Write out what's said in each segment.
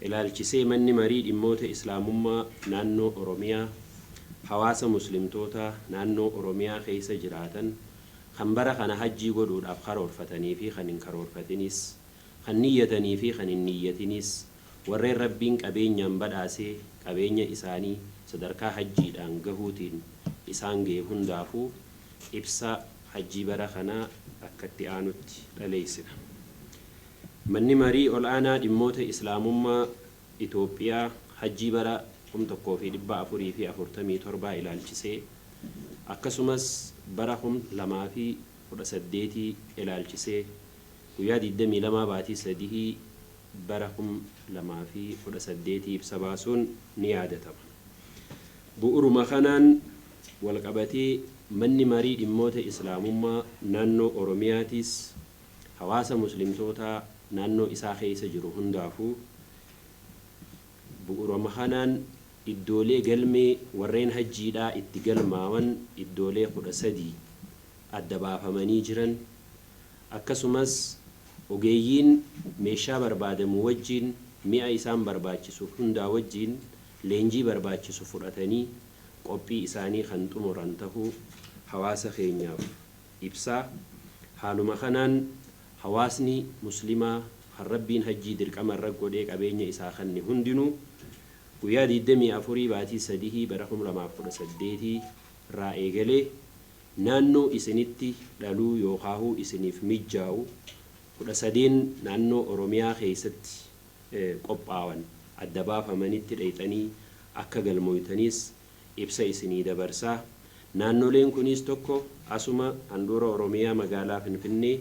ilaalchisee Manni Marii Dhimmoota Islaamummaa Naannoo Oromiyaa hawaasa Muslimtootaa naannoo Oromiyaa keessa jiraatan kan bara kana Hajjii godhuudhaaf karoorfatanii fi kan hin karoorfatinis, kan niyyatanii fi kan hin niyyatinis, warreen Rabbiin qabeenyaan badhaase qabeenya isaanii sadarkaa Hajjiidhaan gahuutiin isaan gahe hundaafuu ibsa Hajjii bara kanaa akka itti aanutti dhaleessina. Manni Marii Ol'aanaa Dhimmoota Islaamummaa Itoophiyaa Hajjii bara 1447 ilaalchisee akkasumas bara 2018 ilaalchisee guyyaa 22 baatii sadihii bara 2018 ibsa baasuun ni yaadatama. Bu'uruma kanaan walqabatee Manni Marii Dhimmoota Islaamummaa Naannoo Oromiyaatiis hawaasa Muslimtootaa naannoo isaa keessa jiru hundaafuu bu'urama kanaan iddoolee galmee warreen hajjiidhaa itti galmaawan iddoolee 13 adda baafamanii jiran akkasumas ogeeyyiin meeshaa barbaadamu wajjiin mi'a isaan barbaachisu hundaa wajjiin leenjii barbaachisu fudhatanii qophii isaanii kan xumuran tahuu hawaasa keenyaaf ibsa. Haaluma kanaan hawaasni muslimaa kan Rabbiin hajjii dirqama irra godhee qabeenya isaa kanne hundinuu guyyaa 24 baatii sadihii bara 2018 irraa eegalee naannoo isinitti dhaluu yookaahuu isiniif mijjaa'u 13n naannoo Oromiyaa keessatti qophaawan adda baafamanitti dhayxanii akka galmooytaniis ibsa isinii dabarsa. Naannoleen kuniis 1 asuma handhuura Oromiyaa magaalaa Finfinnee,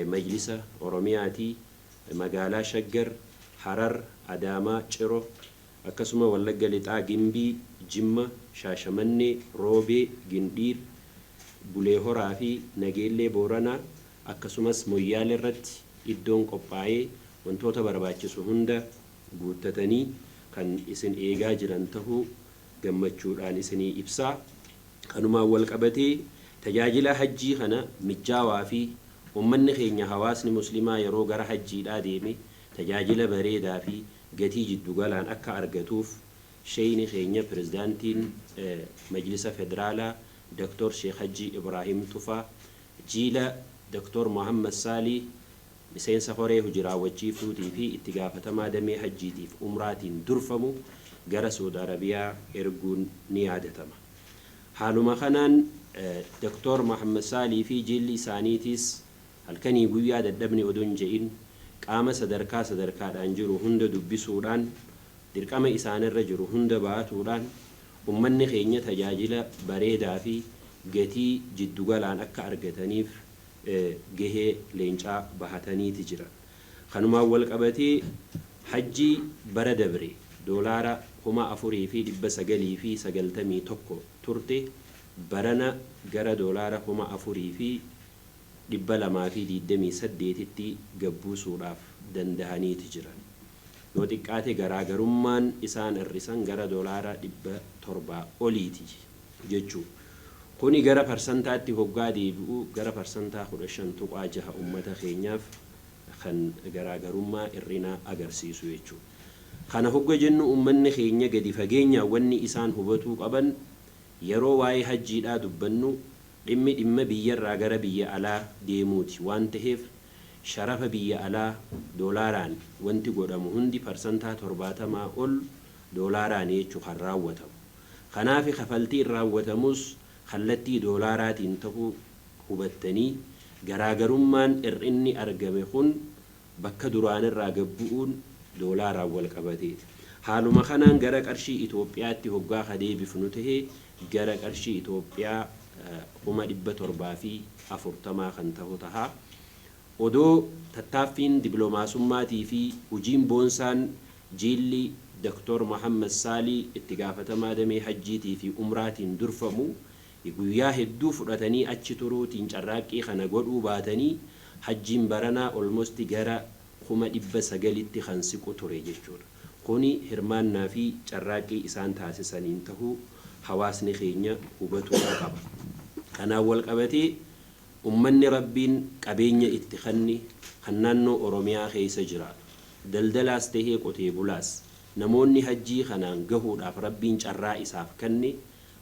Majlisa Oromiyaati, magaalaa Shaggar, Harar, Adaamaa, Ciro, akkasuma Wallagga Lixaa Gimbii, Jimma, Shaashamannee, Roobee, Gindhiir, Bulee Horaa fi Nageellee Booranaa akkasumas Moyyaaleerratti iddoon qophaa'ee wantoota barbaachisu hunda guuttatanii kan isin eegaa jiran tahuu gammachuudhaan isinii ibsaa. Kanumaan wal qabatee tajaajila Hajjii kana mijjaawaa fi ummanni keenya hawaasni muslimaa yeroo gara Hajjiidhaa deeme tajaajila bareedaa fi gatii jiddu galaan akka argatuuf Sheyni keenya Pirezidaantiin Majlisa Federaalaa Doktoor Sheek Hajjii Ibraahim Tufaa, Jiila Doktoor Mohammad Saalih, Miseensa Koree Hoji Raawwachiiftuutii fi Itti Gaafatamaa Damee Hajjiitiif Umraatiin durfamu gara Su'ud Arabiyaa erguun ni yaadatama. Haaluma kanaan Dr. Mohammed Saalih fi jiilli isaaniitiis halkanii guyyaa dadhabne odoo hin je'in qaama sadarkaa sadarkaadhaan jiru hunda dubbisuudhaan dirqama isaanirra jiru hunda ba'atuudhaan ummanni keenya tajaajila bareedaa fi gatii jiddu galaan akka argataniif gahee leencaa bahataniiti jiran. Kanumaan walqabatee Hajjii bara dabre doolaara 4991 turte barana gara doolaara 4228tti gad buusuudhaaf dandahaniiti jiran. Yoo xiqqaate garaagarummaan isaan hir'isan gara doolaara 700 oliiti. jechuu. Kuni gara parsantaatti hoggaa deebi'u gara parsantaa 15.6 ummata keenyaaf kan garaagarummaa ir'inaa agarsiisu jechuu. Kana hogga jennu ummanni keenya gadi fageenyaan wanni isaan hubatuu qaban yeroo waa'ee hajjiidhaa dubbannu dhimmi dhimma biyyarraa gara biyya alaa deemuuti waan taheef sharafa biyya alaa doolaaraan wanti godhamu hundi parsantaa 70 ol doolaaraani jechuu kan raawwatamu. Kanaafi kafaltiin raawwatamus kallattii doolaaraatiin ta'uu hubattanii garaagarummaan hir'inni argame kun bakka duraanirraa gad bu'uun doolaaraan walqabateeti. Haaluma kanaan gara qarshii Itoophiyaatti hoggaa ka deebifnu tahe gara qarshii Itoophiyaa 740,000 kan tahu taha. Odoo tattaaffiin diplomaasummaatiifi hujiin boonsaan Jiilli Doktor Mohammed Saalih itti gaafatamaa damee Hajjiitii fi Umraatiin durfamu guyyaa hedduu fudhatanii achi turuutiin carraaqqii kana godhuu baatanii Hajjiin baranaa almost gara 900,000tti kan siqu ture jechuudha. Kuni hirmaannaa fi carraaqqii isaan taasisaniin tahuu hawaasni keenya hubatuu qaba. Kanaan walqabatee Ummanni Rabbiin qabeenya itti kanne kan naannoo Oromiyaa keessa jiraatu, daldalaas tahee qotee bulaas, namoonni hajjii kanaan gahuudhaaf Rabbiin carraa isaaf kanne,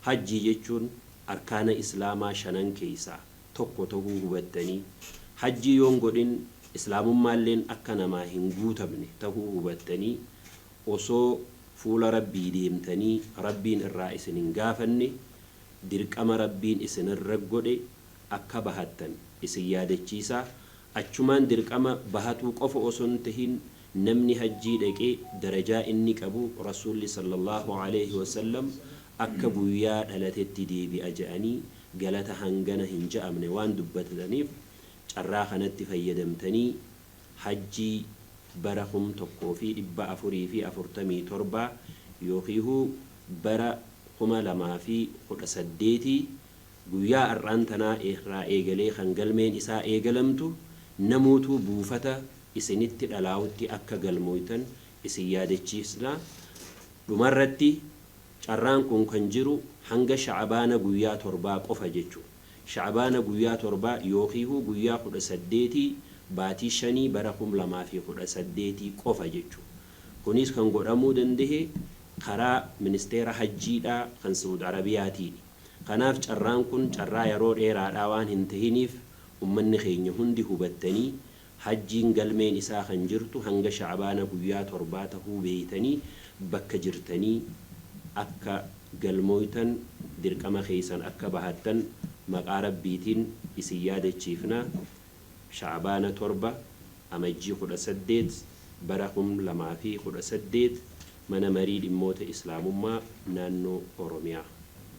hajjii jechuun arkaana Islaamaa shanan keessaa tokko tahuu hubattanii, hajjii yoon godhin Islaamummaalleen akka namaa hin guutamne tahuu hubattanii, osoo fuula Rabbii deemtanii Rabbiin irraa isin hin gaafanne, dirqama Rabbiin isin irra godhe akka bahattan isin yaadachiisaa, achumaan dirqama bahatuu qofa osoo hin tahin namni hajjii dhaqe darajaa inni qabu Rasuulli sallallaahu aleeyhi wasallam akka guyyaa dhalatetti deebi'a ja'anii galata hangana hin ja'amne waan dubbataniif carraa kanatti fayyadamtanii Hajjii bara 1447 yookiihu bara 2018 guyyaa ar'aan tanaa irraa eegalee kan galmeen isaa eegalamtu namuutuu buufata isinitti dhalaawutti akka galmooytan isin yaadachiifsna Dhumarratti carraan kun kan jiru hanga sha'abaana guyyaa torbaa qofa jechuun. Sha'abaana guyyaa torbaa yookiihuu guyyaa kudha saddeetii baatii shanii bara kum lamaa fi kudha saddeetii qofa jechu. Kuniis kan godhamuu dandahe karaa ministeera hajjiidhaa kan Sa'ud Arabiyaatiini. Kanaaf carraan kun carraa yaroo dheeraadhaa waan hin tahiniif ummanni keenya hundi hubattanii Hajjiin galmeen isaa kan jirtu hanga Sha'abaana guyyaa torbaa tahuu beeytanii bakka jirtanii akka galmooytan dirqama keeysan akka bahattan maqaa Rabbiitin isin yaadachiifna Sha'abaana 7 Amajjii 18 bara 2018 Mana Marii Dhimmoota Islaamummaa Naannoo Oromiyaa.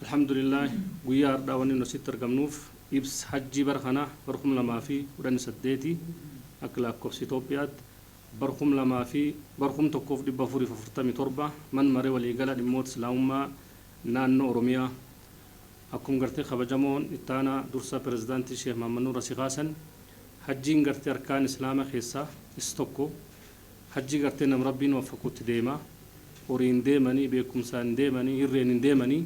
Alhamdulillah guyyaa hardhaa wanni nu asitti argamnuuf Ibs Hajjii bara kanaa bara 2018 Akka Laakkofsa Itoophiyaatti bara 2000 fi bara 1447 Man Mare Waliigala Dhimmoota Islaamummaa Naannoo Oromiyaa Akkum Gartee Kabajamoon Ittaanaa Dursaa Pirezidaantii Sheeh Mahammadnuur Asi Kaasan Hajjiin Gartee Arkaana Islaama Keessaa Is Tokko Hajjii Gartee Nam Rabbiin Waffaqutti Deema Horiin Deemanii Beekumsaan Deemanii Hirreen Hin Deemanii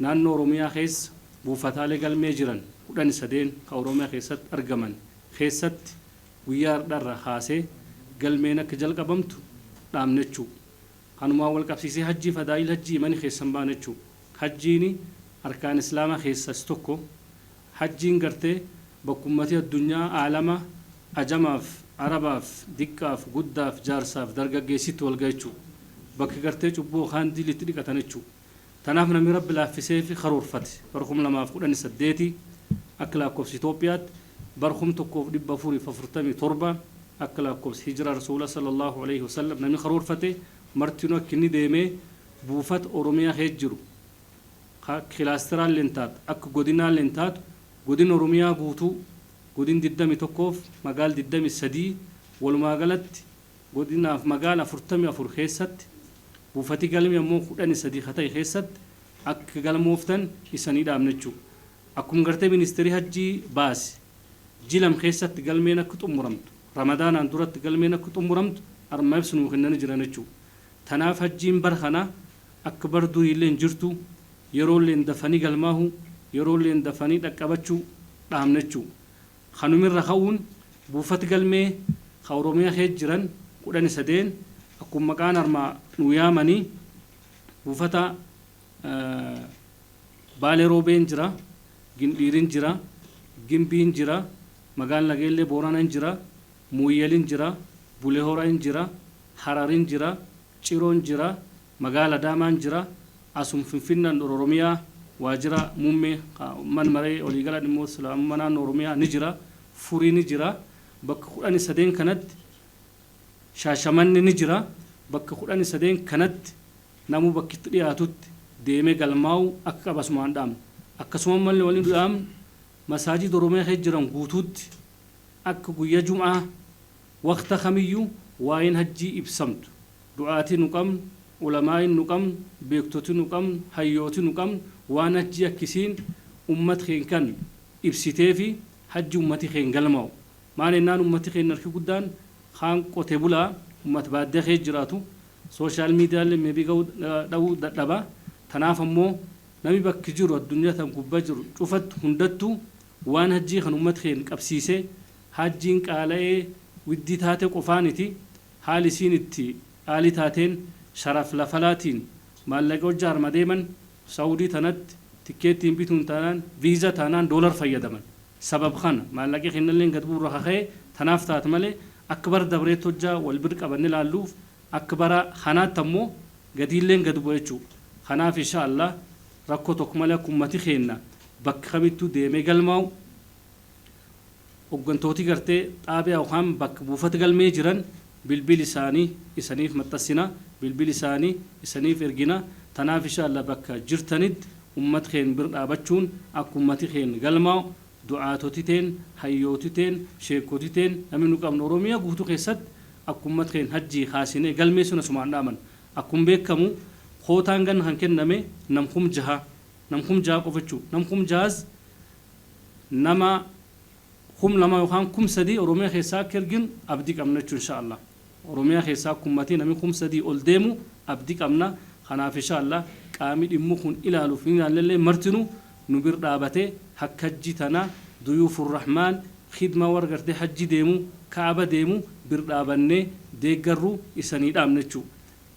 Naannoo Oromiyaa keessa buufataalee galmee jiran kudhan sadeen ka Oromiyaa keessatti argaman keessatti guyyaa hardha irraa kaasee galmeen akka jalqabamtu dhaamnachuu. Kanumaan wal qabsiisee hajjii fadaa'il hajjii imani keessan baanachuu. Hajjiini arkaan islaama keessa is tokko. Hajjiin gartee bakka ummati addunyaa, aalama, ajamaaf, arabaaf, diqqaaf, guddaaf, jaarsaaf, dargaggeessi itti wal gahechuu. Bakka gartee cubbuu yookaan diilli itti dhiqatanechuu. Tanaaf namni Rabbi laaffiseefi karoorfate bara 2018 akka laakkofsi Itoophiyaatti bara 1447 akka laakkofsi Hijraa Rasuula Sallallaahu Aleeyhi Wasallam namni karoorfate martinuu akka inni deemee buufata Oromiyaa keessa jiru ka kilaasteraalleen taatu akka godinaalleen taatu godina Oromiyaa guutuu godin 21f magaal 23 walumaagalatti godinaaf magaala 44 keessatti buufati galmee ammoo kudhani sadii ka tahe keessatti akka galmooftan isanii dhaamna jechuu akkuma gartee ministeerii hajjii baase ji lam keessatti galmeen akka xumuramtu ramadaanaan duratti galmeen akka xumuramtu arma ibsa nuu kennani jiran jechuu tanaaf hajjiin bara kanaa akka bara duriillee hin jirtuu yeroolleen dafanii galmaahuu yeroolleen dafanii dhaqqabachuu dhaamna jechuu Kanumirra ka'uun buufati galmee ka Oromiyaa keessa jiran kudhani sadeen akkuma maqaan armaa nuu yaamani buufata Baale Roobeen jira, Gindhiirin jira, Gimbiin jira, Magaal Nageellee Booranan jira, Mooyyalin jira, Bulehora in jira, Hararin jira, Ciron jira, Magaala Adaamaan jira. Asum Finfinne and Ororomiyaa waajira muumme ka man maree waliigala dhimmoota Islaamumma naannoo Oromiyaa ni jira. Furii ni jira. Bakka kudhani sadeen kanatti Shaashamanne ni jira. Bakka kudhani sadeen kanatti namuu bakki itti dhiyaatutti deemee galmaa'uu akka qaba asumaan dhaamna. Akkasuma malle wani nu dhaamnu Masaajida Oromiyaa keessa jiran guutuutti akka guyya Jum'aa waqta kamiyyuu waa'een Hajjii ibsamtu. Du'aati nu qabn, ulamaain nu qabn, beektoti nu qabn, hayyooti nu qabn waan hajjii akka isiin ummat keen kan ibsiteefi hajji ummati keen galmau. Maan ennaan ummati keen harki guddaan kaan qote bulaa, ummat baaddiya keessa jiraatu, social medialle may be gahu dhabu dadhaba. Tanaaf ammo nami bakki jiru addunyaa tan gubba jiru cufatt hundattu waan hajjii kan ummat keen qabsiise, hajjiin qaalaee widdii taate qofaaniti Haali isiin itti qaali taateen sharaf lafalaatiin maallaqa hojja harma deeman saudi tanatti tikkeettiin bituun taanaan visa taanaan dollar fayyadaman sabab kana maallaqi kennalleen gad bu'u irra ka ka'e tanaaf taat malee akka bara dabreetti hojja wal bir qabanne laalluuf akka bara kanaatti ammo gadiilleen gad bu'a jechuu kanaaf insha allah rakko tokk malee akka ummati keenna bakka kamittuu deemee galmaa'u Hoggantooti gartee, xaabiyaa yokaan bakk buufat galmee jiran bilbil isaani isaniif maxxassina, bilbil isaani isaniif ergina, tanaaf isha Allah bakka jirtanitt ummat keen bir dhaabachuun akk ummati keen galmaa'u du'aatoti teen, hayyooti teen, sheekkoti teen nami nu qabnu Oromiya guutu keessatt akk ummat keen hajjii kaasine galmeessun asumaan dhaaman. Akkum beekkamu kootaan ganna kan kenname nam kum jaha, nam kum jaha qofa jechuu, nam kum jahaas nama kum lama yokaan kum sadii oromiya keessaa akka ergin abdi qabna jechu insha allah oromiya keessaa akka ummati nami kum sadii ol deemu abdi qabna kanaaf insha allah qaami dhimmu kun ilaaluf hin ilaallellee martinu nu bir dhaabate hakka hajji tana duyuufu rahmaan khidma war garte hajji deemu ka'aba deemu bir dhaabanne deeggarru isanii dhaamna jechu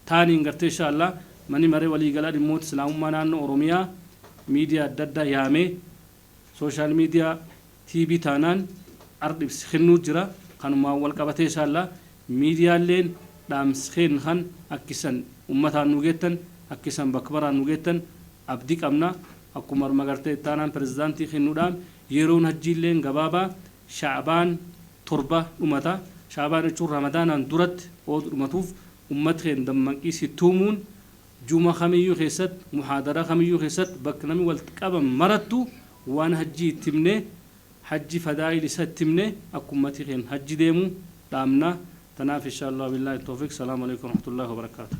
taaniin gartee inshaa Allaah Mani Maree Walii Galaa Dhimmoota Islaamummaa Naannoo Oromiyaa Miidiyaa Adda Addaa Yaamee Social Media TV Taanaan Ardh Ibsi Kennuu Jira Kanumaan Wal Qabatee inshaa Allaah Miidiyaalleen Dhaamsi Keenna Kan Akk Issan Ummataan Nuu Geettan Akk Issan Bakk Maraan Nuu Geettan Abdi Qabna Akkuma Arma Gartee Itti Aanaan Prezidaantii Kennuu Dhaam Yeroon Hajjiilleen Gabaabaa Sha'abaan Torba Dhumata Sha'abaan Jechuun Ramadaanaan Duratti Ood Dhumatuuf Ummat keen dammanqii si tuumuun Juma kamiyyuu keessatti, muhaadaraa kamiyyuu keessatti, bakka namni walitti qaban marattu waan hajjii itti himnee, hajji fadaa'il isa itti himnee akka ummati keen hajji deemu dhaamna. Tanaaf inshaa Allaah wa billaahi toofiq. Salaamu aleykum warahmatullaahi wabarakaatuh.